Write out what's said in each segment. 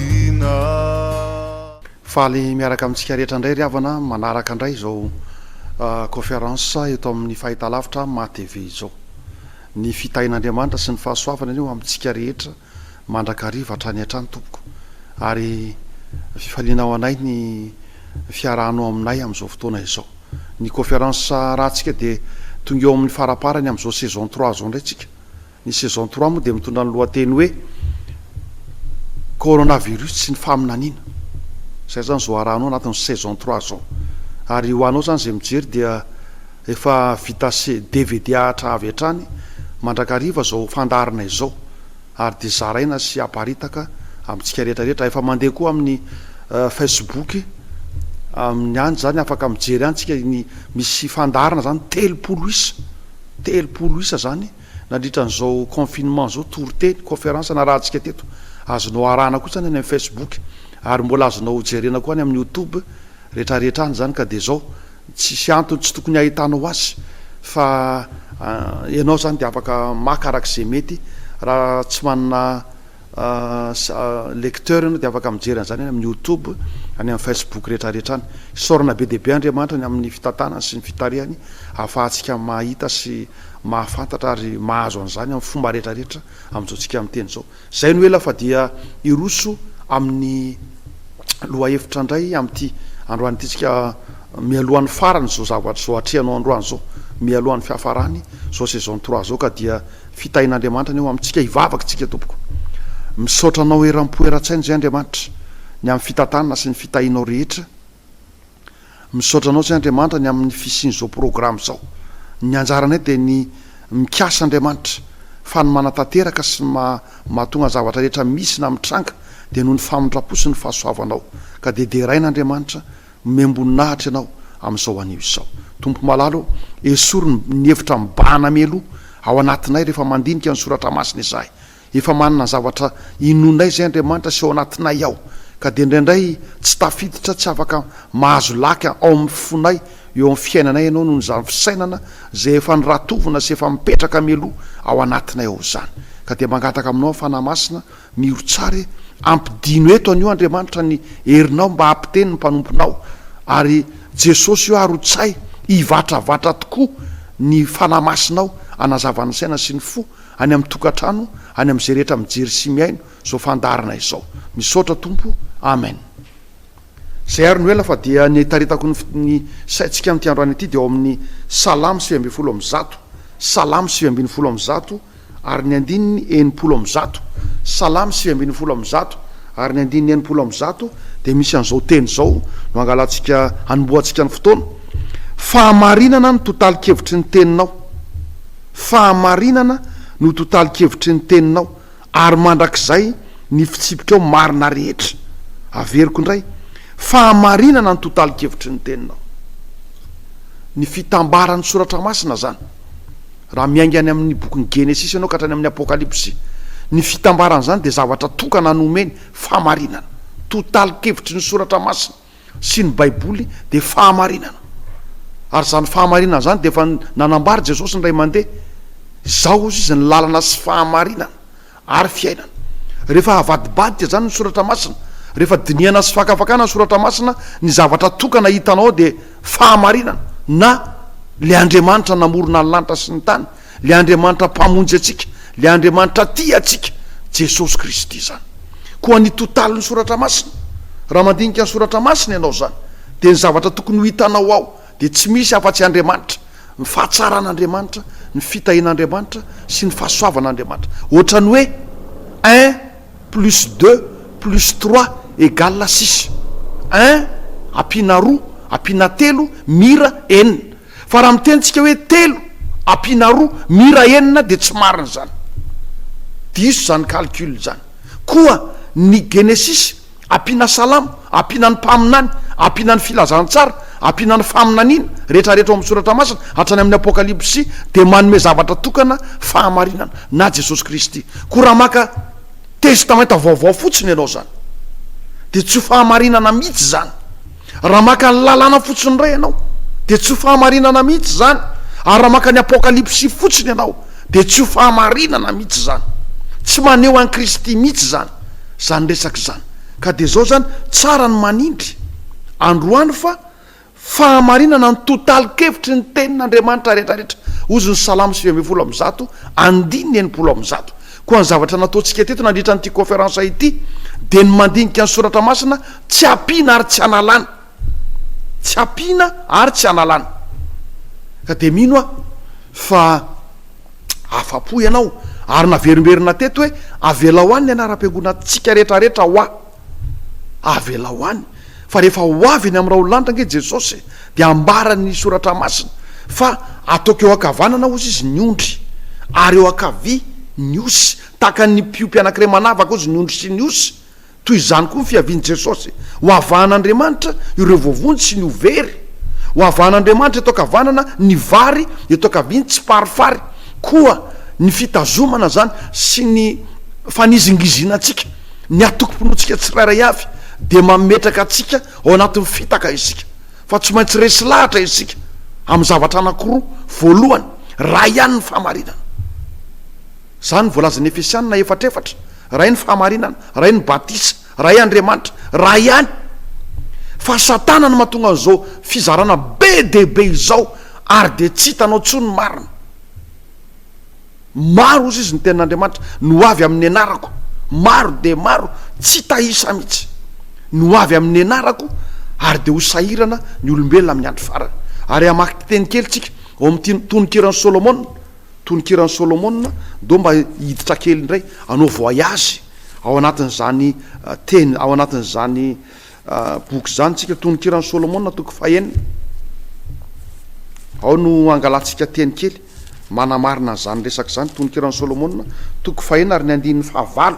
Fianakaviana. Faly miaraka amintsika rehetra indray ry havana manaraka indray izao conférence eto amin'ny fahitalavitra Maha TV izao. Ny fitahian'Andriamanitra sy ny fahasoavany anie ho amintsika rehetra mandrakariva hatrany hatrany tompoko ary fifaliana ho anay ny fiarahanao aminay amin'izao fotoana izao. Ny conférence ratsika dia tonga eo amin'ny faraparany amin'izao saison trois izao indray tsika Ny saison trois moa dia mitondra ny lohateny hoe Coronavirus sy ny faminaniana. Izay zany zao arahanao anatin'ny saison trois zao. Ary ho anao zany izay mijery dia efa vita DVD ahatra avy hatrany mandrakariva izao fandaharana izao ary dia zaraina sy aparitaka amintsika rehetra rehetra. Efa mandeha koa amin'ny Facebook amin'ny any zany afaka mijery any tsika ny misy fandaharana zany telopolo isa, telopolo isa zany. Nandritra an'izao confinement izao toriteny, conférence narahantsika teto, azonao arahana kosa any amin'ny Facebook ary mbola azonao jerena koa any amin'ny YouTube retraretra any izany ka dia izao tsisy antony tsy tokony hahitanao azy fa ianao izany dia afaka maka araka izay mety raha tsy manana Lecteurs ianao dia afaka mijery an'izany any amin'ny YouTube, any amin'ny Facebook rehetrarehetra any. Isaorana be dia be Andriamanitra ny amin'ny fitantanany sy ny fitarihany ahafahantsika mahita sy mahafantatra ary mahazo an'izany amin'ny fomba rehetrarehetra amin'izao tsika miteny izao. Izay no ela fa dia hiroso amin'ny lohahevitra indray amin'ity androany ity tsika mialohan'ny faran'izao zavatra izao atrehanao androany izao, mialohan'ny fiafarany izao saison trois izao ka dia Fitahian'Andriamanitra anie ho amintsika hivavaka isika tompoko. Misaotra anao eram-po eran-tsaina izay Andriamanitra ny amin'ny fitantanana sy ny fitahianao rehetra. Misaotra anao izay Andriamanitra ny amin'ny fisian'izao programme izao. Ny anjaranay dia ny mikasa Andriamanitra fa ny manatanteraka sy ny maha mahatonga ny zavatra rehetra misy na mitranga dia noho ny famindram-po sy ny fahasoavanao. Ka dia deraina Andriamanitra Nomem-boninahitra Ianao amin'izao anio izao. Tompo malala ô, esory ny ny hevitra mibahana mialoha ao anatinay rehefa mandinika ny Soratra Masina izahay. Efa manana ny zavatra inoanay izay Andriamanitra sy ao anatinay ao. Ka dia indraindray tsy tafiditra, tsy afaka mahazo lac ao amin'ny fonay, eo amin'ny fiainanay Ianao noho izany fisainana izay efa noratovina sy efa mipetraka mialoha ao anatinay ao izany. Ka dia mangataka aminao ny Fanahy Masina Miro tsara e! Ampidino eto anio Andriamanitra ny herinao mba hampiteny ny mpanomponao ary Jesosy o arotsay hivatravatra tokoa ny Fanahy Masinao hanazava ny saina sy ny fo any amin'ny tokantrano any amin'izay rehetra mijery sy mihaino izao fandaharana izao. Misaotra Tompo. Amen. Izay ary no ela fa dia ny itaritako ny ny saintsika amin'ity androany ity dia ao amin'ny Salamo sivy ambin'ny folo amby zato, Salamo sivy ambin'ny folo amby zato, ary ny andininy enimpolo amin'ny zato, Salamo sivy ambin'ny folo amin'ny zato ary ny andininy enimpolo amin'ny zato dia misy an'izao teny izao no hangalantsika, hanombohantsika ny fotoana, Fahamarinana no tontalin-kevitry ny teninao, fahamarinana no tontalin-kevitry ny teninao, ary mandrakizay ny fitsipikao marina rehetra. Averiko indray, Fahamarinana no tontalin-kevitry ny teninao. Ny fitambaran'ny soratra masina izany. Raha miainga any amin'ny bokin'ny Genesisy ianao ka hatrany amin'ny Apokalypsy, ny fitambaran'izany dia zavatra tokana nomeny fahamarinana. Totalikevitry ny Soratra Masina sy ny Baiboly dia fahamarinana. Ary izany fahamarinana izany dia efa nanambara Jesosy indray mandeha, Izaho hozy izy ny lalana sy fahamarinana ary fiainana. Rehefa avadibadika izany ny soratra masina, rehefa dinihana sy fakafakana ny soratra masina, ny zavatra tokana hitana ao dia fahamarinana na Ilay Andriamanitra namorona ny lanitra sy ny tany, Ilay Andriamanitra Mpamonjy antsika, Ilay Andriamanitra tia antsika, Jesosy Kristy izany. Koa ny totalin'ny soratra masina, raha mandinika ny soratra masina ianao izany, dia ny zavatra tokony ho hitanao ao, dia tsy misy afa-tsy Andriamanitra, ny fahatsaran'Andriamanitra, ny fitahian'Andriamanitra sy ny fahasoavan'Andriamanitra. Ohatran'ny hoe un plus deux plus trois égale six. Un ampiana roa ampiana telo mira enina. Fa raha miteny tsika hoe telo ampiana roa mira enina dia tsy marina izany. Diso izany calcul izany. Koa ny Genesisy Ampiana salamo, ampiana ny mpaminany, ampiana ny filazantsara, ampiana ny faminaniana, rehetrarehetra ao amin'ny soratra masina, hatrany amin'ny Apokalypsy, dia manome zavatra tokana, fahamarinana, na Jesosy Kristy. Koa raha maka Testamenta Vaovao fotsiny ianao izany, dia tsy ho fahamarinana mihitsy izany. Raha maka ny Lalàna fotsiny indray ianao, dia tsy ho fahamarinana mihitsy izany, ary raha maka ny Apokalypsy fotsiny ianao, dia tsy ho fahamarinana mihitsy izany. Tsy maneho an'i Kristy mihitsy izany, izany resaka izany. Ka dia izao izany, tsara ny manindry, androany, fa fahamarinana ny totalin-kevitry ny Tenin'Andriamanitra rehetrarehetra, hozy ny Salamo sivy ambin'ny folo amby zato, andininy enimpolo amby zato. Koa ny zavatra nataontsika teto nandritra an'ity kaonferansa ity dia ny mandinika ny soratra masina tsy ampiana ary tsy analana. Tsy ampiana ary tsy analana. Ka dia mino aho fa afa-po ianao ary naverimberina teto hoe avelao any ny anaram-piangonantsika rehetrarehetra hoa. Avelao any fa rehefa ho avy eny amin'ny raolanitra ange Jesosy dia ambaran'ny soratra masina fa ataoko eo ankavanana ozy izy ny ondry ary eo ankavia ny osy, tahaka ny mpiompy anankiray manavaka ozy ny ondry sy ny osy, toy izany koa ny fiavian'i Jesosy. Hoavahan'Andriamanitra ireo voavonjy sy ny ho very. Hoavahan'Andriamanitra eto ankavanana ny vary, eto ankavia ny tsiparifary, koa ny fitazomana izany sy ny fanizingizinantsika. Ny antokom-pinoantsika tsirairay avy dia mametraka antsika ao anatin'ny fitaka isika, fa tsy maintsy resy lahatra isika amin'ny zavatra anankiroa, voalohany, Ray ihany ny fahamarinana. Izany no voalazan'ny Efesiana efatra efatra, Ray ny fahamarinana, Ray ny batisa, Ray Andriamanitra, Ray ihany. Fa Satana no mahatonga an'izao fizarana be dia be izao, ary dia tsy hitanao intsony ny marina. Maro, hoy izy, ny tenin'Andriamanitra no ho avy amin'ny anarako, maro dia maro, tsy hita isa mihitsy, no ho avy amin'ny anarako, ary dia ho sahirana ny olombelona amin'ny andro farany. Ary hamaky teny kely isika ao amin'ity tononkiran'i Solomona, tononkiran'i Solomona, ndao mba hiditra kely indray, hanao voyage ao anatin'izany teny, ao anatin'izany Boky izany tsika Tononkiran'i Solomona toko fahenina. Ao no angalantsika teny kely manamarina an'izany resaka izany Tononkiran'i Solomona toko fahenina ary ny andininy fahavalo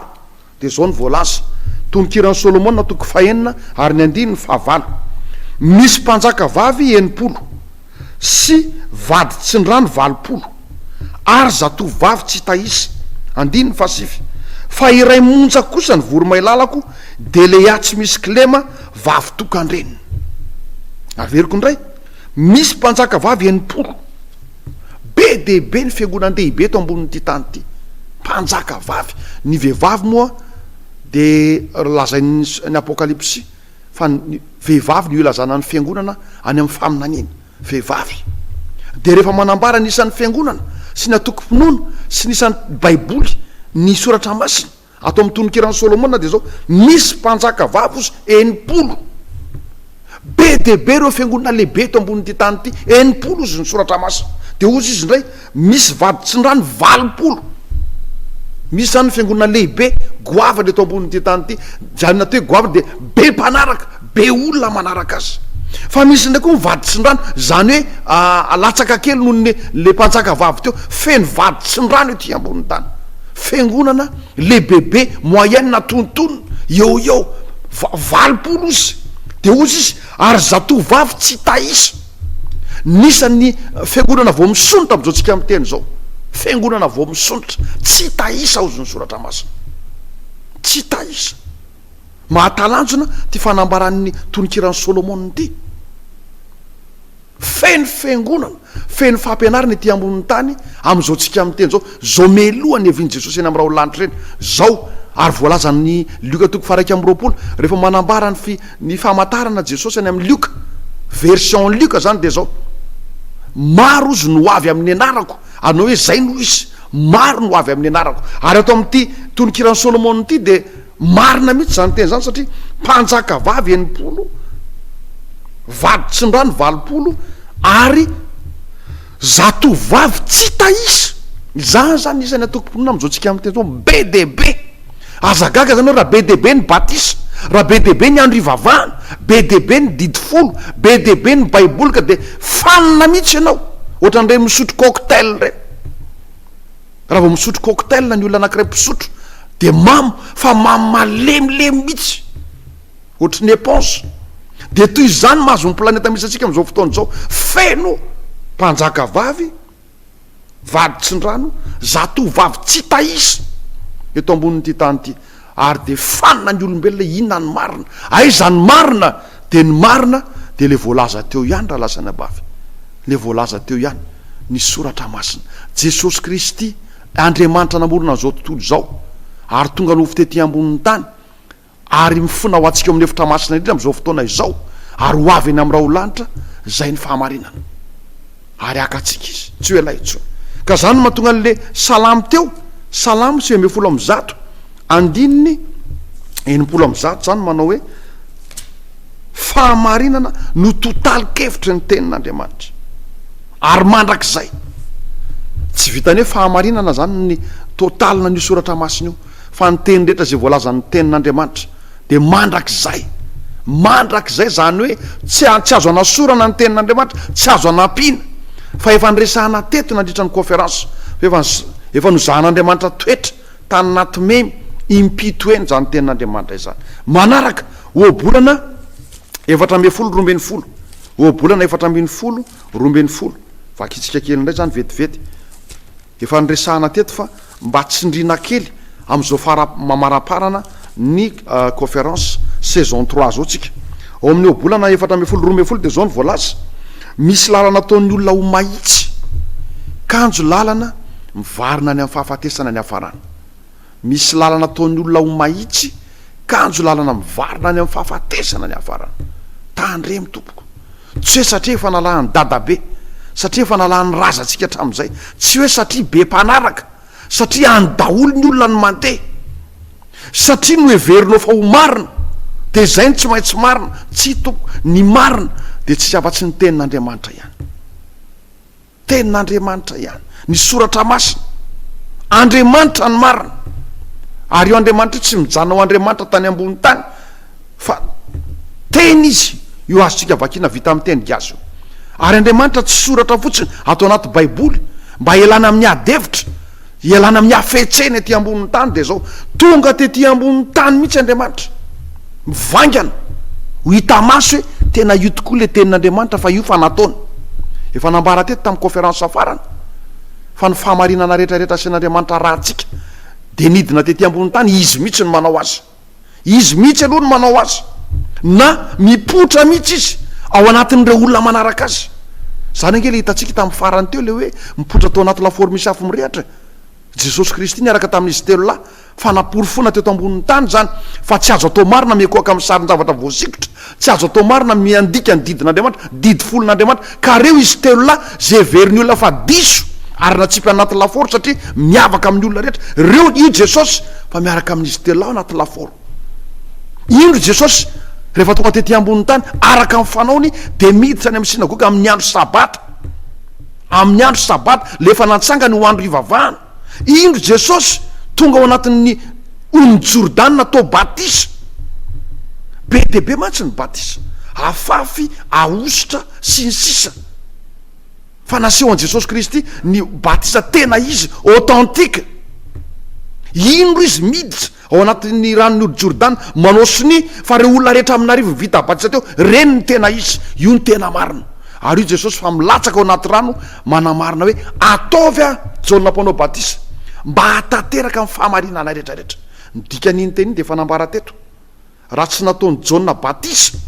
dia izao ny voalaza Tononkiran'i Solomona toko fahenina ary ny andininy fahavalo misy mpanjaka vavy enimpolo sy vady tsindrano valopolo, ary zatovovavy tsy hita isa, andininy fahasivy, fa iray monja kosa ny voromahilalako, dia Lea tsy misy kilema, vavy tokan-dreniny. Averiko indray, misy mpanjaka vavy enimpolo. Be dia be ny fiangonan-dehibe eto ambonin'ity tany ity. Mpanjaka vavy. Ny vehivavy moa dia lazain'ny Apokalypsy Fa ny vehivavy no ilazana ny Fiangonana any amin'ny faminaniana. Vehivavy. Dia rehefa manambara ny isan'ny Fiangonana sy ny antokom-pinoana sy ny isan'ny Baiboly ny Soratra Masina, ato amin'ny Tononkiran'i Solomona dia izao, Misy mpanjaka vavy ozy enimpolo. Be dia be ireo Fiangonana lehibe eto ambonin'ity tany ity, enimpolo ozy ny Soratra Masina. Dia ozy izy indray, Misy vaditsindrano valopolo miisa any fiangonana lehibe goavana eto ambonin'ity tany ity. Izany atao hoe goavana dia be mpanaraka, be olona manaraka azy. Fa misy indray koa ny vaditsindrano, izany hoe latsaka kely noho ny ilay mpanjaka vavy teo. Feno vaditsindrano ety ambonin'ny tany. Fiangonana lehibebe, moyenne na tontonina, eo ho eo valopolo ozy. Dia hozy izy, ary zatovovavy tsy hita isa. Nisan' ny fiangonana vao misondrotra amin' izao tsika miteny izao, fiangonana vao misondrotra, tsy hita isa ozy ny Soratra Masina, tsy hita isa. Mahatalanjona ity fanambaran' ny tononkiran' Sôlômôna ity. Feno fiangonana, feno fampianarana ety ambon' ny tany amin' izao tsika miteny izao, izao meloa ny hevian' i Jesosy eny amin' ny raholdlanitra eny, izao ary voalazan' i Lioka toko faha iraika amby roapolo rehefa manambara ny fi, Ny famantarana Jesosy any amin'ny Lioka, version Lioka izany dia izao, Maro ozy no ho avy amin'ny anarako, anao hoe izay no izy, maro no ho avy amin'ny anarako. Ary ato amin'ity tononkiran'i Solomona ity dia marina mihitsy izany teny izany satria mpanjakavavy enimpolo, vaditsindrano valopolo ary. Zatovovavy tsy hita isa! Izany izany isan'ny antokom-pinoana amin'izao tsika amin'ny teny izao, be dia be! Aza gaga izany hoe raha be dia be ny batisa, raha be dia be ny andro ivavahana, be dia be ny didy folo, be dia be ny baiboly ka dia fanina mihitsy ianao, ohatran'ireny misotro cocktail ireny. Raha vao misotro cocktail ny olona anankiray mpisotro dia mamo fa mamo malemilemy mihitsy. ohatry ny eponge dia toy izany mahazo ny planeta misy antsika amin'izao fotoana izao feno mpanjaka vavy vady tsindrano zato vavy tsy tahisa eto ambonin'ity tany ity ary dia fanina ny olombelona inona ny marina aiza ny marina dia ny marina dia le voalaza teo ihany raha lasa ny abavy le voalaza teo ihany ny soratra masina jesosy kristy andriamanitra namorona an'izao tontolo izao ary tonga no fitety ambonin'ny tany Ary mifona ho antsika ao amin'ny efitra masina indrindra amin'izao fotoana izao, ary ho avy eny amin'ny raholanitra, izay ny fahamarinana. Ary haka antsika Izy, tsy ho ela intsony. Ka izany no mahatonga an'ilay salamo teo, Salamo sivy ambin'ny folo amby zato, andininy enimpolo amby zato izany, manao hoe, Fahamarinana no totalin-kevitry ny Tenin'Andriamanitra. Ary mandrakizay. Tsy vitan'ny hoe fahamarinana izany ny totalina an'io soratra masina io. fa ny teny rehetra izay voalazan'ny tenin'Andriamanitra dia mandrakizay, mandrakizay, izany hoe tsy tsy azo anasorana ny tenin'Andriamanitra, tsy azo anampiana, fa efa niresahana teto nandritra ny conférence fa efa efa nozahan'Andriamanitra toetra tany naty memy impito eny izany tenin'Andriamanitra izany. Manaraka ohabolana efatra ambin'ny folo roa ambin'ny folo, ohabolana efatra ambin'ny folo roa ambin'ny folo, vakitsika kely indray izany vetivety. Efa niresahana teto fa mba tsindriana kely amin'izao fara-mamaramparana ny Conference saison trois zao tsika. Ao amin'ny ohabolana efatra ambin'ny folo roa ambin'ny folo dia izao no voalaza, Misy lalana ataon'ny olona ho mahitsy, kanjo lalana mivarina any amin'ny fahafatesana ny hafarana. Misy lalana ataon'ny olona ho mahitsy, kanjo lalana mivarina any amin'ny fahafatesana ny hafarana. Tandremo tompoko. Tsy hoe satria efa nalahan'i dadabe, satria efa nalahan'ny razantsika hatramin'izay, tsy hoe satria be mpanaraka, satria any daholo ny olona no mandeha, satria noheverinao fa ho marina, dia izay no tsy maintsy marina. Tsia tompoko. Ny marina dia tsy misy afa-tsy ny Tenin'Andriamanitra ihany. Tenin'Andriamanitra ihany ny Soratra Masina. Andriamanitra ny marina. Ary io Andriamanitra io tsy mijanona ho Andriamanitra tany ambony tany fa Teny Izy. Io azontsika vakina vita amin'ny teny gasy io. Ary Andriamanitra tsy soratra fotsiny ato anaty Baiboly mba hialana amin'ny ady hevitra Hialana amin'ny hafetsena ety ambonin'ny tany dia izao, tonga tety ambonin'ny tany mihitsy Andriamanitra, mivaingana, ho hita maso hoe tena io tokoa ilay tenin'Andriamanitra fa io fa nataony. Efa nambara teto tamin'ny kaonferansa farany fa ny fahamarinana rehetra rehetra asain'Andriamanitra arahantsika dia nidina tety ambonin'ny tany, Izy mihitsy no manao azy. Izy mihitsy aloha no manao azy, na mipoitra mihitsy izy ao anatin'ireo olona manaraka azy. Izany ange ilay hitantsika tamin'ny farany teo, ilay hoe mipoitra tao anaty lafaoro misy afo mirehitra e! Jesosy Kristy niaraka tamin'izy telo lahy, fa namporofoina teto ambonin'ny tany izany fa tsy azo atao marina miankohoka amin'ny sarin-javatra voasikotra, Tsy azo atao marina ny miandika ny didin'Andriamanitra, didy folon'Andriamanitra, ka reo izy telo lahy ze heverin'ny olona fa diso ary natsipy anaty lafaoro satria miavaka amin'ny olona rehetra reo, io Jesosy fa miaraka amin'izy telo lahy anaty lafaoro. Indro Jesosy rehefa tonga tety ambonin'ny tany araka ny fanaony dia miditra any amin'ny synagoga amin'ny andro sabata, amin'ny andro sabata, lefa natsangany ho andro hivavahana. Indro Jesosy tonga ao anatin'ny Ony Jordana atao batisa. Be dia be mantsy ny batisa. Afafy, ahosotra, sy ny sisa. Fa naseho an'i Jesosy Kristy ny batisa tena izy, authentique. Indro Izy miditra Ao anatin'ny ranon'ny ody Jordana, manao sonia fa ireo olona rehetra amin'arivony vita batisa teo, ireny no tena izy. Io no tena marina. Ary hoy Jesosy fa milatsaka ao anaty rano manamarina hoe, Ataovy ahy Jaona Mpanao Batisa, mba hahatanteraka ny fahamarinana rehetra rehetra. Ny dikan'iny teny iny dia efa nambara teto. Raha tsy nataon'i Jaona batisa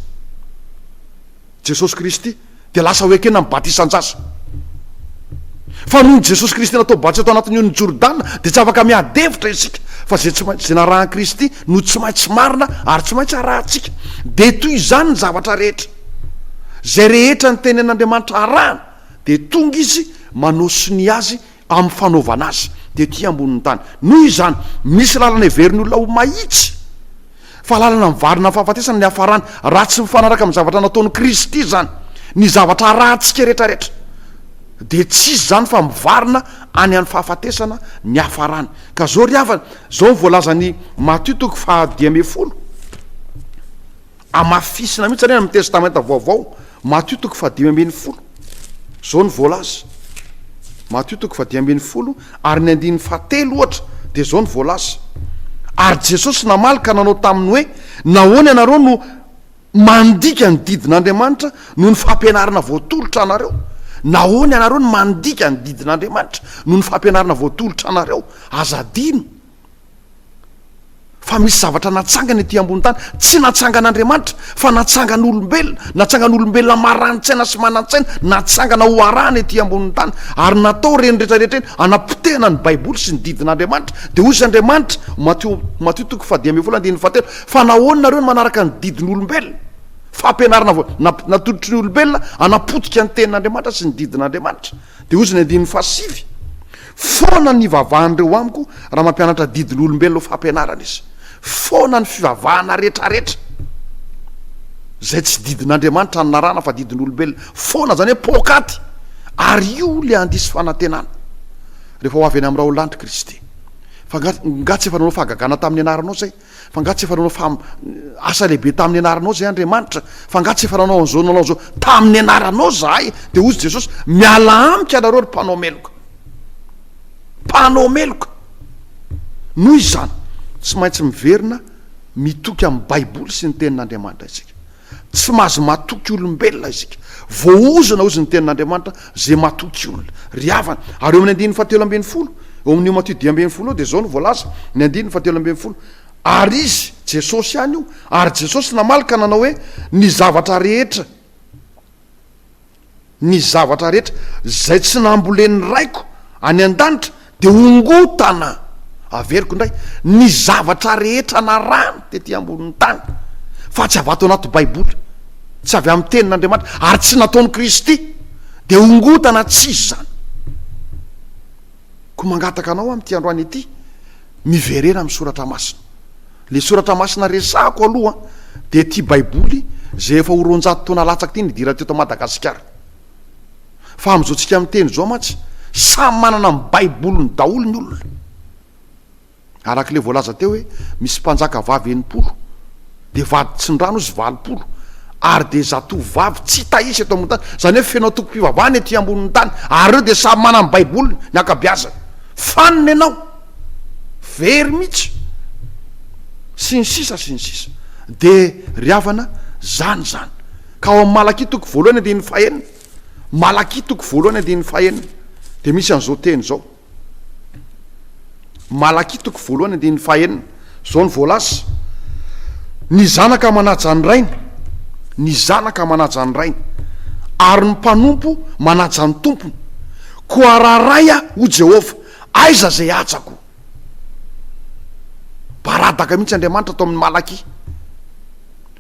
Jesosy Kristy, dia lasa ho ekena ny batisan-jaza. Fa noho i Jesosy Kristy natao batisa tao anatin'ny onin'i Jordana, dia tsy afaka miady hevitra isika, fa izay tsy maintsy, izay narahan'i Kristy no tsy maintsy marina ary tsy maintsy arahantsika. Dia toy izany ny zavatra rehetra. Izay rehetra nitenenin'Andriamanitra harahana, dia tonga Izy manao sonia azy amin'ny fanaovana azy tety ambonin'ny tany. Noho izany, misy lalana heverin'ny olona ho mahitsy fa lalana mivarina amin'ny fahafatesana ny hafarana, raha tsy mifanaraka amin'ny zavatra nataon'i Kristy izany. Ny zavatra arahantsika rehetrarehetra dia tsy iza izany fa mivarina any amin'ny fahafatesana ny hafarany. Ka izao ry havana, izao no voalazan'i Matio toko fahadimy ambin'ny folo. Hamafisina mihitsy anie any amin'ny Testamenta Vaovao, Matio toko fahadimy ambin'ny folo. Izao no voalaza, Matio toko fahadimy ambin'ny folo ary ny andininy fahatelo ohatra, dia izao no voalaza, Ary Jesosy namaly ka nanao taminy hoe, Nahoana ianareo no mandika ny didin'Andriamanitra noho ny fampianarana voatolotra anareo? Nahoana ianareo no mandika ny didin'Andriamanitra noho ny fampianarana voatolotra anareo? Aza adino! fa misy zavatra natsangana ety ambony tany tsy natsangan'Andriamanitra fa natsangan'olombelona natsangan'olombelona marani-tsaina sy manan-tsaina natsangana ho arahana ety ambony tany ary natao ireny rehetra rehetra eny anapotehana ny baiboly sy ny didin'Andriamanitra dia hoy izy Andriamanitra Matio Matio toko fahadimy ambin'ny folo andininy fahatelo fa nahoana nareo no manaraka ny didin'olombelona fampianarana vao natolotry ny olombelona anapotika ny tenin'Andriamanitra sy ny didin'Andriamanitra Dia hoy izy ny andininy fahasivy, Foana ny ivavahan'ireo amiko raha mampianatra adidy loha-olombelona ho fampianarana izy. Foana ny fivavahana rehetrarehetra, izay tsy didin'Andriamanitra anarahana fa didin'olombelona. Foana, izany hoe poakaty. Ary io ilay handiso fanantenana, rehefa ho avy any amin'ny Raolandry Kristy. Fa nga, nga tsy efa nanao fahagagana tamin'ny anaranao izay? Fa nga tsy efa nanao fam asa lehibe tamin'ny anaranao zahay Andriamanitra? Fa nga tsy efa nanao an'izao nanao an'izao tamin'ny anaranao zahay? Dia hozy Jesosy, Mialà amiko ianareo ry mpanao meloka. Mpanao meloka! Noho izany, tsy maintsy miverina mitoky amin'ny Baiboly sy ny Tenin'Andriamanitra isika. Tsy mahazo matoky olombelona isika. Voaozona hozy ny tenin'Andriamanitra ze matoky olona. Ry havana, ary eo amin'ny andininy fahatelo ambin'ny folo, eo amin'io Matio dimy ambin'ny folo io dia izao no voalaza, ny andininy fahatelo ambin'ny folo, Ary izy, Jesosy ihany io, ary Jesosy namaly ka nanao hoe, Ny zavatra rehetra, ny zavatra rehetra izay tsy nambolen'ny Raiko any an-danitra dia hongotana, averiko indray, ny zavatra rehetra narahany tety ambonin'ny tany, fa tsy avy ato anaty Baiboly, tsy avy amin'ny Tenin'Andriamanitra, ary tsy nataon'i Kristy, dia hongotana tsy izy izany. Koa mangataka anao amin'ity androany ity, miverena amin'ny Soratra Masina. Ilay soratra masina resahako aloha dia ity baiboly izay efa ho roanjato taona latsaka ity nidirana teto Madagasikara. Fa amin'izao tsika miteny izao mantsy samy manana ny baiboliny daholo ny olona. Araka ilay voalaza teo hoe misy mpanjaka vavy enimpolo dia vady tsindrano izy valopolo ary dia zatovo vavy tsy hita isa eto ambony tany. Izany hoe feno antokom-pivavahana ety ambonin'ny tany ary ireo dia samy manana ny baiboliny ny ankabeazany. Fanina ianao! very mitsy sy ny sisa sy ny sisa de ry havana zany zany ka ao am malakia toko voalohany andininy fahenina malakia toko voalohany andininy fahenina de misy an'izao teny zao malakia toko voalohany andininy fahenina zao ny voalaza ny zanaka manaja ny rainy ny zanaka manaja ny rainy ary ny mpanompo manaja ny tompony koa raha raya ho jehovah Aiza zay hajako? Baradaka mihitsy Andriamanitra ato amin'ny Malaki.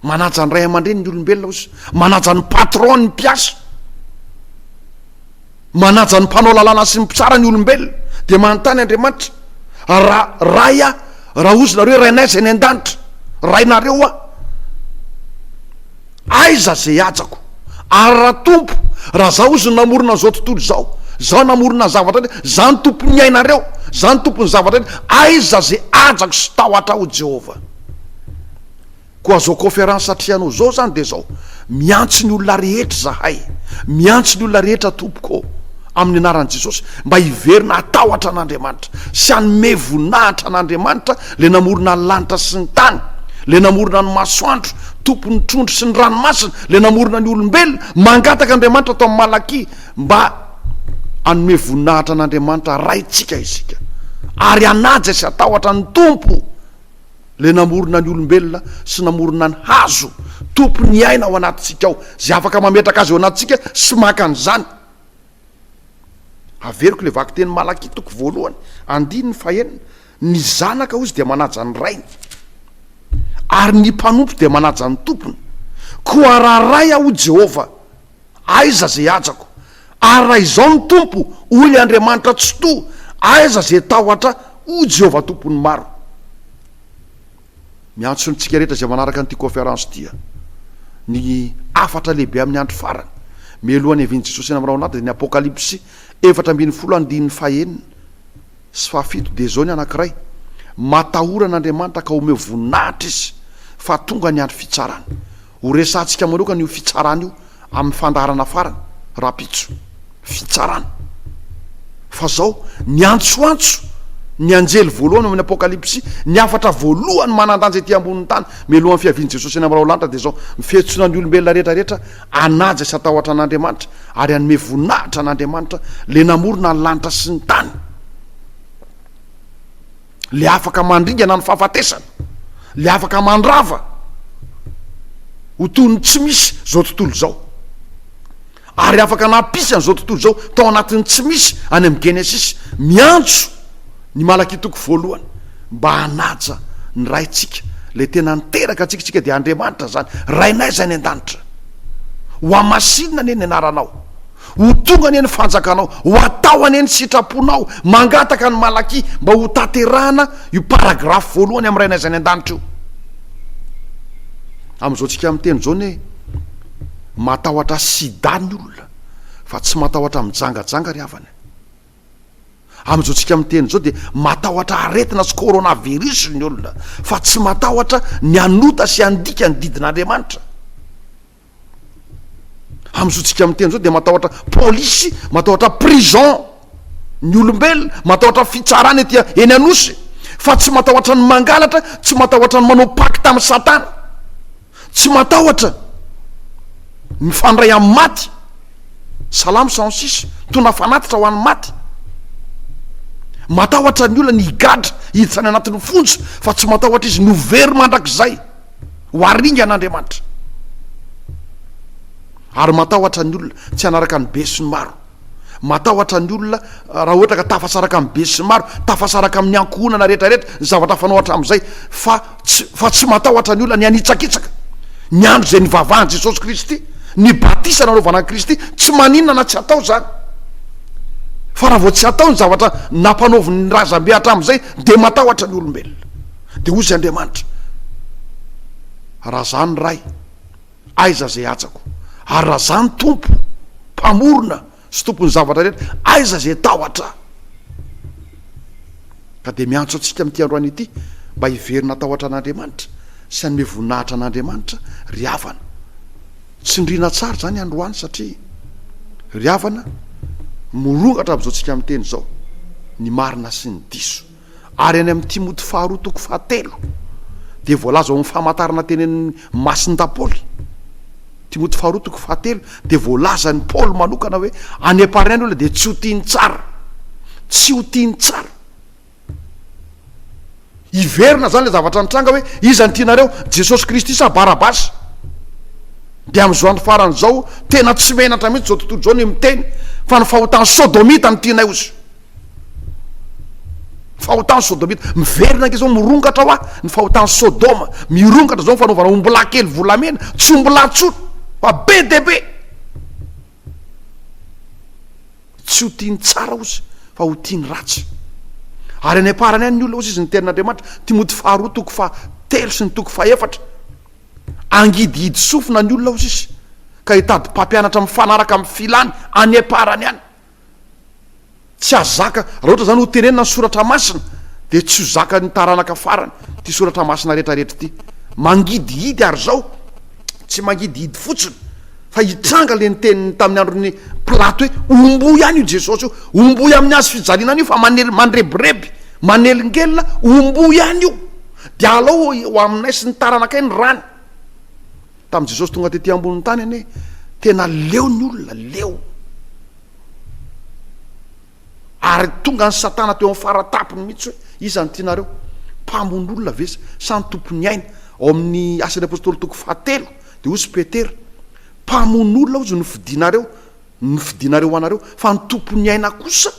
Manaja ny ray aman-dreny ny olombelona oz. Manaja ny patron ny mpiasa. Manaja ny mpanao lalàna sy ny mpitsara ny olombelona. Dia manontany Andriamanitra, raha Ray aho, raha ozy nareo hoe Rainay izay any an-danitra, Rainareo aho. Aiza ze hajako ary ra tompo ra za ozy namorona zao tontolo zao za namorona zavatra ndray za ny tompo ny ainareo za ny tompo ny zavatra ndray aiza ze hajako sy tahotra o Jehovah koa zao conférence atrehanao zao zany de zao miantso ny olona rehetra zahay miantso ny olona rehetra tompoko ô amin'ny anaran'i Jesosy mba hiverina hatahotra an'Andriamanitra sy hanome voninahitra an'Andriamanitra le namorona ny lanitra sy ny tany le namorona ny masoandro Tompon'ny trondro sy ny ranomasina, ilay namorona ny olombelona. Mangataka Andriamanitra tao amin'ny Malakia mba hanome voninahitra an'Andriamanitra Raintsika isika, ary hanaja sy hatahotra ny Tompo, ilay namorona ny olombelona sy namorona ny hazo, Tompon'ny aina ao anatintsika ao, izay afaka mametraka azy ao anatintsika sy maka an'izany. Averiko ilay vakitenin'i Malakia toko voalohany, andininy fahenina. Ny zanaka hozy dia manaja ny rainy, ary ny mpanompo dia manaja ny tompony. Koa raha Ray aho, hoy Jehovah, aiza izay hajako? Ary raha izao no Tompo, hoy ny Andriamanitra Tsitoha, aiza izay tahotra, hoy Jehovah Tompon'ny maro? Miantso antsika rehetra izay manaraka an'ity kaonferansy ity ny hafatra lehibe amin'ny andro farany, mialohan'ny havian'i Jesosy eny amin'ny rahona ady, dia ny Apokalypsy efatra ambin'ny folo andininy fahenina. sy fahafito dia izao ny anankiray, Matahora an'Andriamanitra ka omeo voninahitra Izy fa tonga ny andro fitsarany. Ho resahantsika manokana io fitsarana io amin'ny fandaharana farany rahampitso. Fitsarana. Fa izao, niantsoantso ny anjely voalohany ao amin'ny Apokalypsy ny hafatra voalohany manan-danja ety ambonin'ny tany mialohan'ny fiavian'i Jesosy any amin'ny Raolanitra dia izao, Ny fihetsona ny olombelona rehetra rehetra Hanaja sy hatahotra an'Andriamanitra ary hanome voninahitra an'Andriamanitra, Ilay namorona ny lanitra sy ny tany, Ilay afaka mandringana ny fahafatesana, Ilay afaka mandrava ho toy ny tsy misy izao tontolo izao, ary afaka nampisy an'izao tontolo izao tao anatin'ny tsy misy any amin'ny Genesisy. Miantso. Ny Malaky toko voalohany mba hanaja ny Raintsika ilay tena niteraka antsika, isika dia Andriamanitra izany, Rainay izay any an-danitra, ho hamasinina anie ny anaranao, ho tonga anie ny fanjakanao, ho atao anie ny sitraponao, mangataka ny Malaky mba ho tanterahana io paragrafy voalohany amin'ny Rainay izay any an-danitra io. Amin'izao tsika miteny izao anie matahotra sida ny olona fa tsy matahotra mijangajanga ry havana. Amin'izao tsika miteny izao dia matahotra aretina sy coronavirus ny olona fa tsy matahotra ny hanota sy handika ny didin'Andriamanitra. Amin'izao tsika miteny izao dia matahotra polisy, matahotra prison ny olombelona, matahotra fitsarana ety eny Anosy fa tsy matahotra ny mangalatra, tsy matahotra ny manao pacte amin'ny satana. Tsy matahotra mifandray amin'ny maty. Salamo cent six, tondra fanatitra ho an'ny maty. Matahotra ny olona ny higadra, hiditra any anatin'ny fonja, fa tsy matahotra izy ny ho very mandrakizay, ho haringan'Andriamanitra. Ary matahotra ny olona tsy hanaraka ny besinimaro. Matahotra ny olona raha ohatra ka tafasaraka amin'ny besimaro, tafasaraka amin'ny ankohonana rehetrarehetra ny zavatra fanao hatramin'izay, fa tsy fa tsy matahotra ny olona ny hanitsakitsaka ny andro izay nivavahan'i Jesosy Kristy, ny batisa nanaovana an'i Kristy, tsy maninona na tsy atao izany. Fa raha vao tsy atao ny zavatra nampanaovin'ny razambe hatramin'izay dia matahotra ny olombelona. Dia hoy izay Andriamanitra, Raha izany Ray, Aiza izay hajako? Ary raha Zah ny Tompo, Mpamorona sy Tompon'ny zavatra rehetra, aiza izay tahotra? Ka dia miantso antsika amin'ity androany ity mba hiverina hatahotra an'Andriamanitra sy hanome voninahitra an'Andriamanitra ry havana. Tsindriana tsara izany androany satria ry havana, mirongatra amin'izao tsika miteny izao ny marina sy ny diso. Ary any amin'i Timoty faharoa toko fahatelo dia voalaza ao amin'ny famantarana teny amin'ny masin-dapoly, Timoty faharoa toko fahatelo, dia voalazan'i Paoly manokana hoe any am-parany any olona dia tsy ho tia ny tsara, tsy ho tia ny tsara. Hiverina izany ilay zavatra nitranga hoe iza no tianareo, Jesosy Kristy sa Barabasy? Dia amin'izao andro farany izao, tena tsy menatra mihitsy izao tontolo izao ny miteny fa ny fahotan'ny Sodomita no tianay ozy. Fahotan'i Sôdômita. Miverina ange izao, mirongatra hoa ny fahotan'i Sôdôma. Mirongatra izao ny fanaovana ombilahy kely volamena, tsy ombilahy intsony, fa be dia be. Tsy ho tia ny tsara ozy, fa ho tia ny ratsy. Ary any am-parany any ny olona ozy izy ny tenin'Andriamanitra. Timoty faharoa toko fa telo sy ny toko fa efatra. Angidihidy sofina ny olona ozy izy, ka hitady mpampianatra mifanaraka amin'ny filany any am-parany any. Tsy azo zaka, raha ohatra izany hotenenina ny soratra masina dia tsy ho zakan'ny taranaka farany ity soratra masina rehetrarehetra ity. Mangidihidy ary izao, tsy mangidihidy fotsiny fa hitranga ilay niteniny tamin'ny andron'i Pilato hoe omboy ihany io Jesosy io, omboy amin'ny hazo fijaliana anio fa manel- mandrebireby, manelingelina, omboy ihany io, dia alao ho aminay sy ny taranakay ny rany. Tamin'i Jesosy tonga tety ambonin'ny tany anie tena leo ny olona, leo. Ary tonga ny Satana teo amin'ny faratapony mihitsy hoe iza no tianareo? Mpamono olona ve sa ny tompon'ny aina? Ao amin'ny Asan'ny Apôstôly toko fahatelo dia hoy i Petera, Mpamono olona hozy no fidinareo, ny fidinareo ho anareo, fa ny tompon'ny aina kosa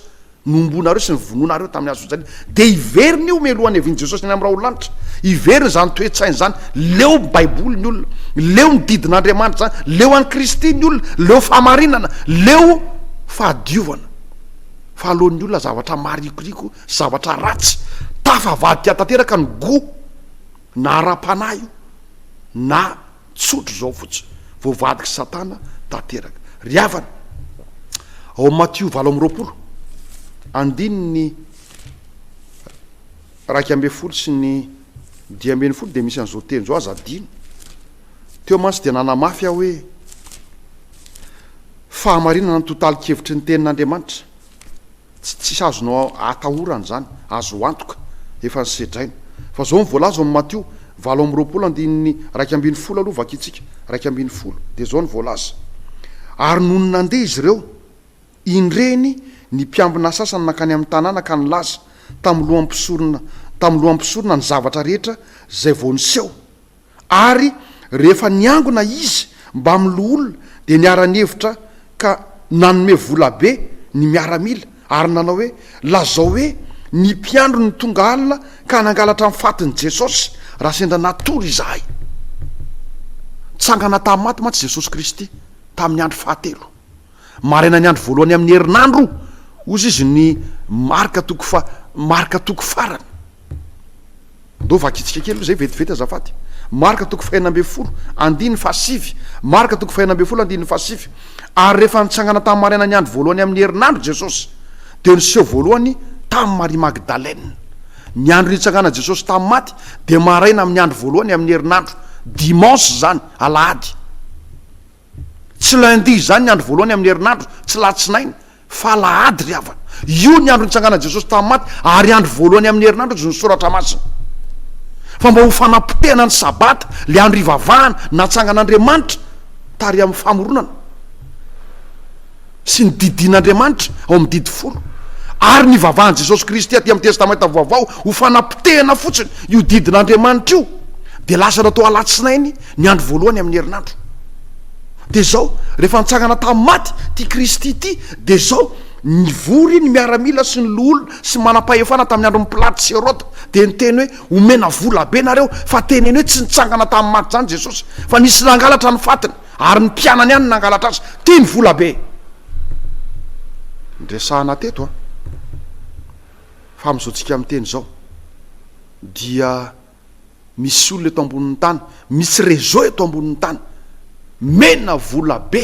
Nomboanareo sy novonoinareo tamin'ny hazofijaliana, dia hiverina io mialoha hanevian'i Jesosy any amin'ny raololanitra. Hiverina izany toe-tsaina izany. Leo ny Baiboly ny olona. Leo ny didin'Andriamanitra izany. Leo an'i Kristy ny olona. Leo fahamarinana. Leo fahadiovana. Fa aleon'ny olona zavatra marikoriko, zavatra ratsy. Tafavadika tanteraka ny goût, na ara-panahy io, na Tsotra izao fotsiny, voavadik'i Satana tanteraka. Ry havana, ao amin'ny Matio valo amby roapolo, andininy iraika ambin'ny folo sy ny dimy ambin'ny folo dia misy an'izao teny izao, aza adino. Teo mantsy dia nanamafy aho hoe fahamarinana ny totalikevitry ny tenin'Andriamanitra. Tsy tsy azonao atahorana izany, azo antoka, efa nosedraina. Fa izao ny voalaza ao amin'ny Matio, valo amby roapolo andininy iraika ambin'ny folo aloha vakintsika, iraika ambin'ny folo, dia izao ny voalaza, Ary nony nandeha izy ireo, indreny, ny mpiambina sasany nankany amin'ny tanàna ka nilaza tamin'ny lohan'ny mpisorona, tamin'ny lohan'ny mpisorona ny zavatra rehetra izay vao niseho. ary rehefa niangona izy mbamin'ny loholona dia niara-nihevitra ka nanome vola be ny miaramila ary nanao hoe, Lazao hoe ny mpiandry no tonga alina ka nangalatra ny fatin'i Jesosy raha sendra natory izahay. Nitsangana tamin'ny maty mantsy Jesosy Kristy tamin'ny andro fahatelo. Marainan'ny andro voalohany amin'ny herinandro, hozy izy, ny marika toko fa, marika toko farany. Ndao vakintsika kely aloha izay vetivety azafady. Marika toko fahenina ambin'ny folo, andininy fahasivy. Marika toko fahenina ambin'ny folo, andininy fahasivy. Ary rehefa nitsangana tamin'ny marainan'ny andro voalohany amin'ny herinandro Jesosy, dia niseho voalohany tamin'i Maria Magdalena. Ny andro nitsanganan'i Jesosy tamin'ny maty dia maraina amin'ny andro voalohany amin'ny herinandro, dimanche izany, alahady. Tsy lundi izany ny andro voalohany amin'ny herinandro, tsy latsinainy, fa alahady ry havana. Io ny andro nitsanganan'i Jesosy tamin'ny maty, ary andro voalohany amin'ny herinandro hozy ny soratra masina. Fa mba ho fanapotehana ny sabata, ilay andro ivavahana, natsangan'Andriamanitra, tary amin'ny famoronana. sy ny didin'Andriamanitra ao amin'ny Didy Folo ary nivavahan'i Jesosy Kristy aty amin'ny Testamenta Vaovao ho fanapotehana fotsiny io didin'Andriamanitra io dia lasa natao alatsinainy ny andro voalohany amin'ny herinandro. Dia izao, rehefa nitsangana tamin'ny maty ity Kristy ity, dia izao, nivory ny miaramila sy ny loholona sy manam-pahefana tamin'ny andron'i Pilato sy Heroda, dia niteny hoe, omena volabe nareo, fa teneno hoe tsy nitsangana tamin'ny maty izany Jesosy, fa nisy nangalatra ny fatiny. Ary ny mpianany ihany nangalatra azy tia ny vola be. Niresahana teto a. Fa amin'izao tsika miteny izao dia misy olona eto ambonin'ny tany, misy réseau eto ambonin'ny tany mena vola be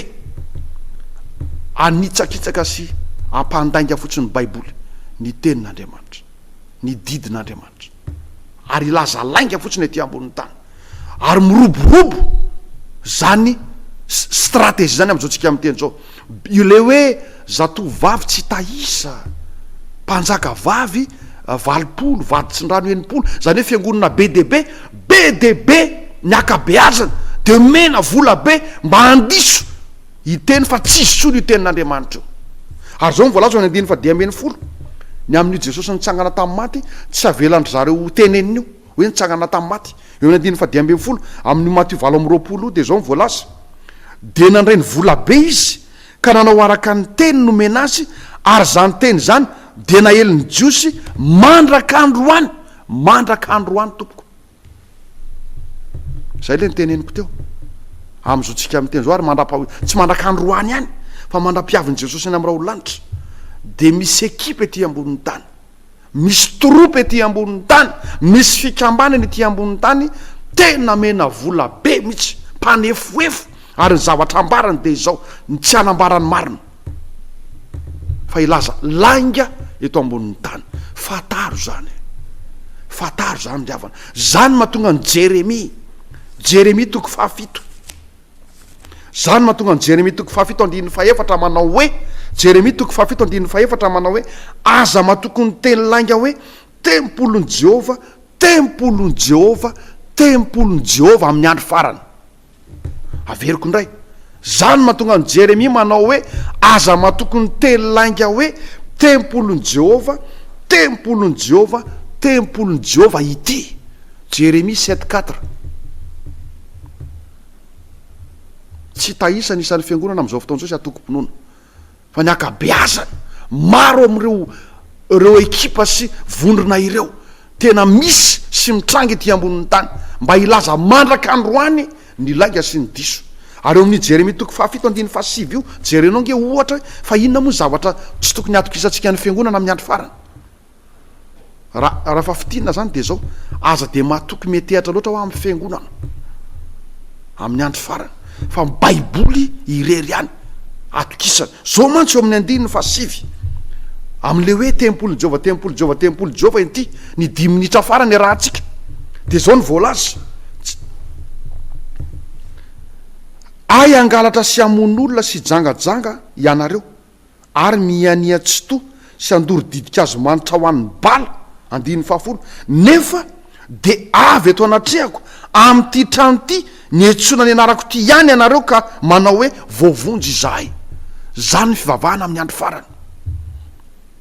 anitsakitsaka sy ampandainga fotsiny ny baiboly, ny tenin'Andriamanitra, ny didin'Andriamanitra. ary hilaza lainga fotsiny ety ambonin'ny tany ary miroborobo zany stratégie zany amin'izao tsika amin'ny teny zao ilay hoe zatovo vavy tsy tahisa mpanjaka vavy eh, valopolo vady tsindrano enimpolo zany hoe fiangonana be dia be be dia be ny akabeazana de mena vola be mba handiso Hiteny fa tsy hisolo io tenin'Andriamanitra io. Ary izao no voalaza ao amin'ny andininy fahadimy ambin'ny folo, Ny amin'io Jesosy nitsangana tamin'ny maty, tsy havelan-dry zareo ho tenenina io, hoe nitsangana tamin'ny maty. Eo amin'ny andininy fahadimy ambin'ny folo, amin'io Matio valo amby roapolo io, dia izao no voalaza, Dia nandray ny volabe izy, ka nanao araka ny teny nomena azy, ary izany teny izany dia naelin'ny Jiosy mandrak'androany, mandrak'androany, tompoko. Zay le niteneniko teo. Amin'izao tsika miteny zao ary mandrapa tsy mandrakany roany ihany fa mandra-piavin'i Jesosy any amin'ny raolo lanitra dia misy ekipa ety ambonin'ny tany. Misy tropa ety ambonin'ny tany, misy fikambanana ety ambonin'ny tany tena mena vola be mihitsy, mpanefoefo ary ny zavatra ambarany dia izao, ny tsy hanambara ny marina. fa hilaza lainga eto ambonin'ny tany. Fantaro izany e! Fantaro izany ry havana. Izany mahatonga an'i Jeremia, Jeremia toko fahafito. Izany mahatonga an'i Jeremia toko fahafito andininy fahefatra manao hoe, Jeremia toko fahafito andininy fahefatra manao hoe, aza matoky ny teny lainga hoe, Tempolin'i Jehovah, tempolin'i Jehovah, tempolin'i Jehovah amin'ny andro farany. Averiko indray, Zany no mahatonga an'i Jeremia manao hoe, Aza matoky ny teny lainga hoe, Tempolin'i Jehovah, tempolin'i Jehovah, tempolin'i Jehovah ity. Jeremia sept quatre. Tsy tahisa ny isan'ny fiangonana amin'izao fotoana izao izay antokom-pinoana. Fa ny ankabeazany, maro amin'ireo ireo ekipa sy vondrona ireo tena misy sy mitranga ety ambonin'ny tany mba hilaza mandraka androany ny lainga sy ny diso. Ary eo amin'io Jeremia toko fahafito andininy fahasivy io, jerenao ange ohatra hoe fa inona moa ny zavatra tsy tokony hatokisantsika ny Fiangonana amin'ny andro farany. Raha raha fa fitinina zany de zao, aza de matoky metehatra loatra hoa amin'ny fiangonana amin'ny andro farany fa ny baiboly irery ihany atokisana. Zao mantsy eo amin'ny andininy faha sivy amin'le hoe tempolin'i Jehovah, tempolin'i Jehovah, tempolin'i Jehovah inty ny dimy minitra farany iarahantsika. De zao ny voalaza, tsy Hay hangalatra sy hamono olona sy hijangajanga ianareo. ary mihiania tsitoha sy handoro didink'hazo manitra ho an'ny bala, andininy fahafolo, nefa dia avy eto anatrehako amin'ity trano ity ny etsoina ny anarako ity ihany ianareo ka manao hoe voavonjy izahay. Izany ny fivavahana amin'ny andro farany.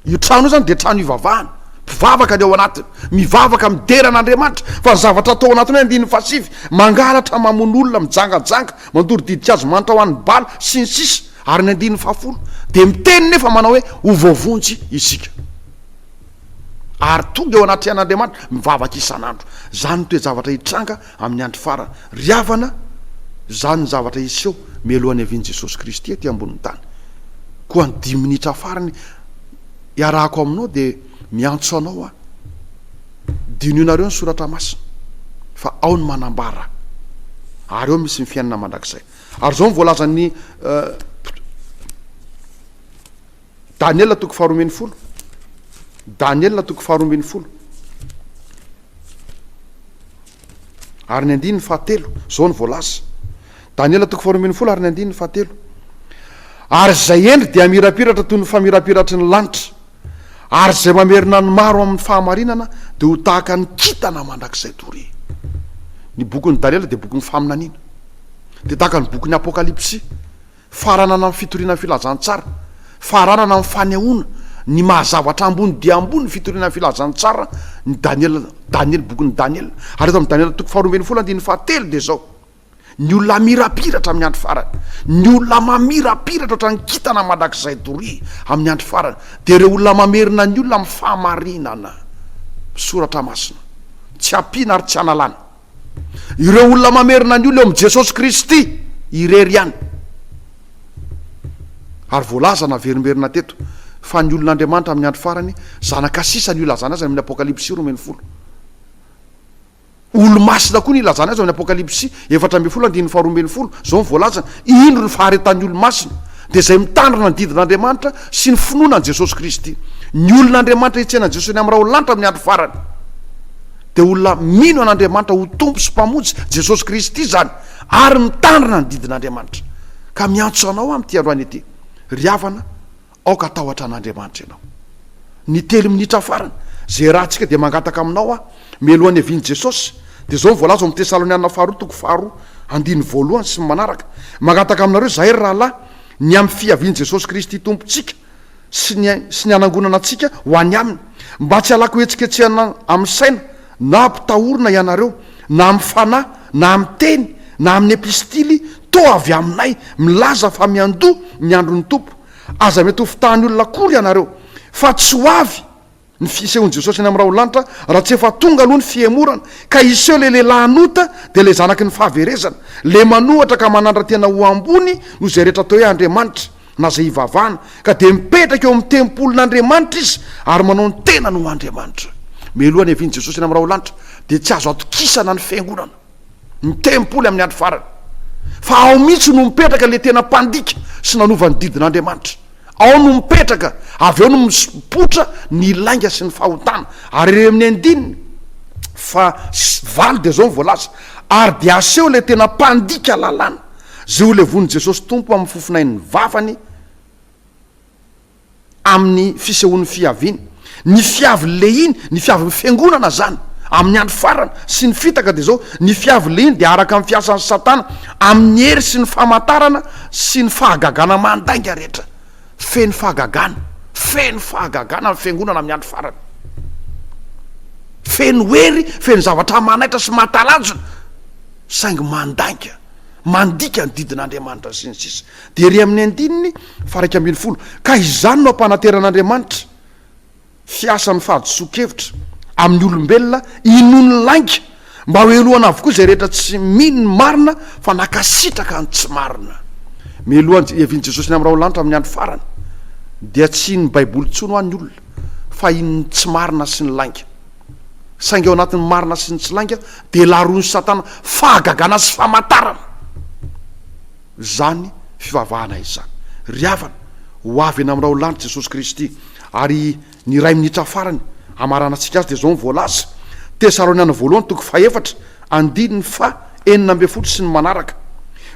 Io trano io izany dia trano ivavahana, mpivavaka ny ao anatiny, mivavaka midera an'Andriamanitra, fa ny zavatra atao ao anatiny hoe andininy fahasivy, mangalatra, mamono olona, mijangajanga, mandoro didink'hazo manitra ho an'ny bala, sy ny sisa, Ary ny andininy fahafolo dia miteny nefa manao hoe ho voavonjy isika ary tonga eo anatrehan'Andriamanitra mivavaka isan'andro. Izany no toe-javatra hitranga amin'ny andro farany. Ry havana, izany ny zavatra hiseho mialoha ny havian'i Jesosy Kristy ety ambonin'ny tany. Koa ny dimy minitra farany iarahako aminao dia miantso anao aho. Dinihinareo ny soratra masina fa ao ny manambara ary ao misy ny fiainana mandrakizay. Ary izao no voalazan'i Daniela toko faharoa ambin'ny folo, Daniela toko faharoa ambin'ny folo. Ary ny andininy fahatelo, izao no voalaza. Daniela toko faharoa ambin'ny folo ary ny andininy fahatelo. Ary izay hendry dia hamirapiratra toy ny famirapiratry ny lanitra. ary izay mamerina ny maro amin'ny fahamarinana dia ho tahaka ny kintana mandrakizay doria. Ny bokin'i Daniela dia bokin'ny faminaniana. Dia tahaka ny bokin'ny Apokalypsy, faranana amin'ny fitoriana ny filazantsara, faranana amin'ny fanehoana ny maha-zavatra ambony dia ambony ny fitoriana ny filazantsara ny Daniela, Daniela, bokin'i Daniela. Ary eto amin'ny Daniela toko faharoa ambin'ny folo andininy fahatelo dia izao. Ny olona hamirapiratra amin'ny andro farany, ny olona mamirapiratra ohatran'ny kintana mandrakizay doria amin'ny andro farany, dia ireo olona mamerina ny olona amin'ny fahamarinana. Soratra masina. Tsy ampiana ary tsy analana. Ireo olona mamerina ny olona eo amin'i Jesosy Kristy irery ihany. Ary voalaza naverimberina teto fa ny olon'Andriamanitra amin'ny andro farany, zanaka sisa no ilazana azy any amin'ny Apokalypsy roa ambin'ny folo. Olomasina koa ny ilazana azy ao amin'ny Apokalypsy efatra ambin'ny folo andininy faharoa ambin'ny folo, izao no voalazany, Indro ny faharetan'ny olo-masina, dia izay mitandrina ny didin'Andriamanitra sy ny finoana an'i Jesosy Kristy. Ny olon'Andriamanitra hitsena an'i Jesosy any amin'ny raolanitra amin'ny andro farany dia olona mino an'Andriamanitra ho Tompo sy Mpamonjy, Jesosy Kristy izany, ary mitandrina ny didin'Andriamanitra. Ka miantso anao aho amin'ity androany ity, ry havana, Aoka hatahotra an'Andriamanitra ianao. Ny telo minitra farany, izay iarahantsika dia mangataka aminao aho, mialoha ny havian'i Jesosy, dia izao no voalaza ao amin'ny Tesalonianina Faharoa toko faharoa, andininy voalohany sy ny manaraka, Mangataka aminareo izahay, ry rahalahy, ny amin'ny fiavian'i Jesosy Kristy Tompontsika sy ny, sy ny hanangonana antsika ho any Aminy, mba tsy halako hetsiketsehana amin'ny saina, na hampitahorina ianareo, na amin'ny fanahy, na amin'ny teny, na amin'ny epistily, toa avy aminay, milaza fa miandoha ny andron'ny Tompo. Aza miatovo tany olona akory ianareo fa tsy ho avy ny fisehoan'i Jesosy any amin'ny raholanitra raha tsy efa tonga aloha ny fihemorana ka hiseho ilay lehilahin'ota dia ilay zanaky ny fahaverezana ilay manohatra ka manandra-tena ho ambony noho izay rehetra atao hoe Andriamanitra na izay hivavahana ka dia mipetraka eo amin'ny tempolin'Andriamanitra izy ary manao ny tenany ho Andriamanitra. Mialoha ny havian'i Jesosy any amin'ny raholanitra dia tsy azo atokisana ny fiangonana. ny tempoly amin'ny andro farany, fa ao mihitsy no mipetraka ilay tena mpandika sy nanova ny didin'Andriamanitra. Ao no mipetraka, avy eo no mipoitra ny lainga sy ny fahotana. Ary eo amin'ny andininy fa valo dia izao ny voalaza, ary dia aseho ilay tena mpandika lalàna, izay ho levon'i Jesosy Tompo amin'ny fofon'ain'ny vavany, amin'ny fisehoan'ny fiaviany. Ny fiavy lehiny, ny fiavin'ny fiangonana zany amin'ny andro farany sy ny fitaka dia zao, ny fiavy lehiny dia araka ny fiasan'i satana amin'ny hery sy ny famantarana sy ny fahagagana mandainga rehetra. Feno fahagagana, feno fahagagana ny fiangonana amin'ny andro farany. Feno hery, feno zavatra manaitra sy mahatalanjona saingy mandainga, mandika ny didin'Andriamanitra sy ny sisa. Dia ery amin'ny andininy faha-iraika ambin'ny folo, Ka izany no ampanateran'Andriamanitra, fiasan'ny fahadisoan-kevitra, amin'ny olombelona inoan'ny lainga, mba hohelohana avokoa izay rehetra tsy mino ny marina fa nankasitraka ny tsy marina. Mialoha ny hiavian'i Jesosy ny amin'ny rahona lanitra amin'ny andro farany, dia tsy hinin'ny Baiboly intsony ho'a ny olona, fa hinin'ny tsy marina sy ny lainga. Saingy ao anatin'ny marina sy ny tsy lainga dia laroin'i Satana fahagagana sy famatarana. izany fivavahana izany. Ry havana, ho avy eny amin'ny raholanitra Jesosy Kristy, ary ny iray minitra farany hamaranantsika Azy dia izao no voalaza, Tesaloniana Voalohany toko fahefatra, andininy faha enina ambin'ny folo sy ny manaraka,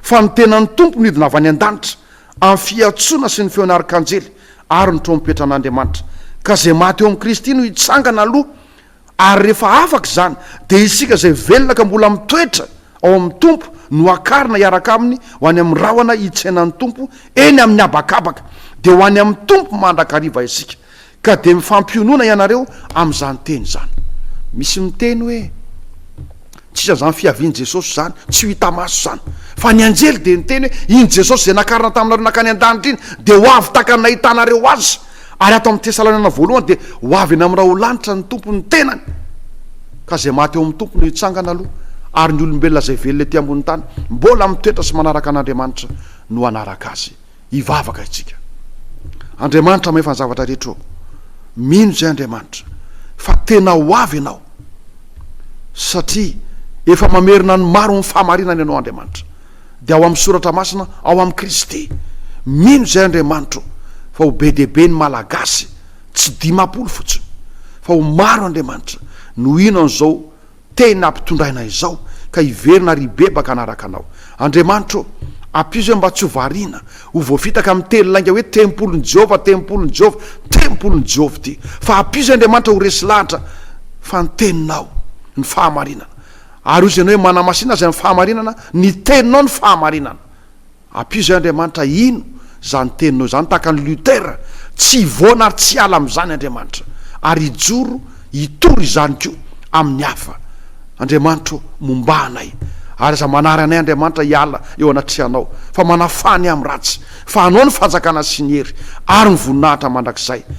Fa ny tenan'ny Tompo nidina avy any an-danitra amin'ny fiantsoana sy ny feon'ny arkanjely ary ny trompetran'Andriamanitra, ka izay maty eo amin'i Kristy no hitsangana aloha, Ary rehefa afaka izany, dia isika izay velona ka mbola mitoetra ao amin'ny Tompo no hakarina hiaraka Aminy ho any amin'ny rahona hitsenan'ny Tompo eny amin'ny habakabaka. Dia ho any amin'ny Tompo mandrakariva isika. Ka dia mifampionona ianareo amin'izany teny izany. Misy miteny hoe. Tsy isan'ny izany fiavian'i Jesosy izany, tsy ho hita maso izany. Fa ny anjely dia niteny hoe, Iny Jesosy izay nakarina taminareo nankany an-danitra iny, dia ho avy tahaka ny nahitanareo Azy. Ary ato amin'ny Tesaloniana Voalohany dia ho avy eny amin'ny raholanitra ny Tompo ny tenany. Ka izay maty eo amin'ny Tompo no hitsangana aloha, ary ny olombelona izay velona ety ambony tany, mbola mitoetra sy manaraka an'Andriamanitra, no hanaraka Azy. Hivavaka isika. Andriamanitra mahefa ny zavatra rehetra ô! Mino izay Andriamanitra fa tena ho avy ianao satria efa mamerina ny maro amin'ny fahamarinana ianao Andriamanitra. Dia ao amin'ny soratra masina, ao amin'i Kristy. Mino izay Andriamanitra ô! Fa ho be dia be ny Malagasy, tsy dimampolo fotsiny, fa ho maro Andriamanitra no hino an'izao Tena mpitondra aina izao ka hiverina ary hibebaka hanaraka anao. Andriamanitra ô, ampizo ahy mba tsy ho variana, ho voafitaka amin'ny teny lainga hoe tempolin'i Jehovah, tempolin'i Jehovah, tempolin'i Jehovah ity. Fa ampizo ahy Andriamanitra ho resy lahatra fa ny teninao ny fahamarinana. Ary hoy izy ianao hoe manamasina azy amin'ny fahamarinana, ny teninao ny fahamarinana. Ampio izay Andriamanitra hino izany teninao izany tahaka an'i Luther, tsy hivoana ary tsy hiala amin'izany Andriamanitra ary hijoro hitory izany koa amin'ny hafa. Andriamanitra ô, mombà anay ary aza manary anay Andriamanitra hiala eo anatrehanao fa manafà ny amin'ny ratsy fa anao ny fanjakana sy ny hery ary ny voninahitra mandrakizay.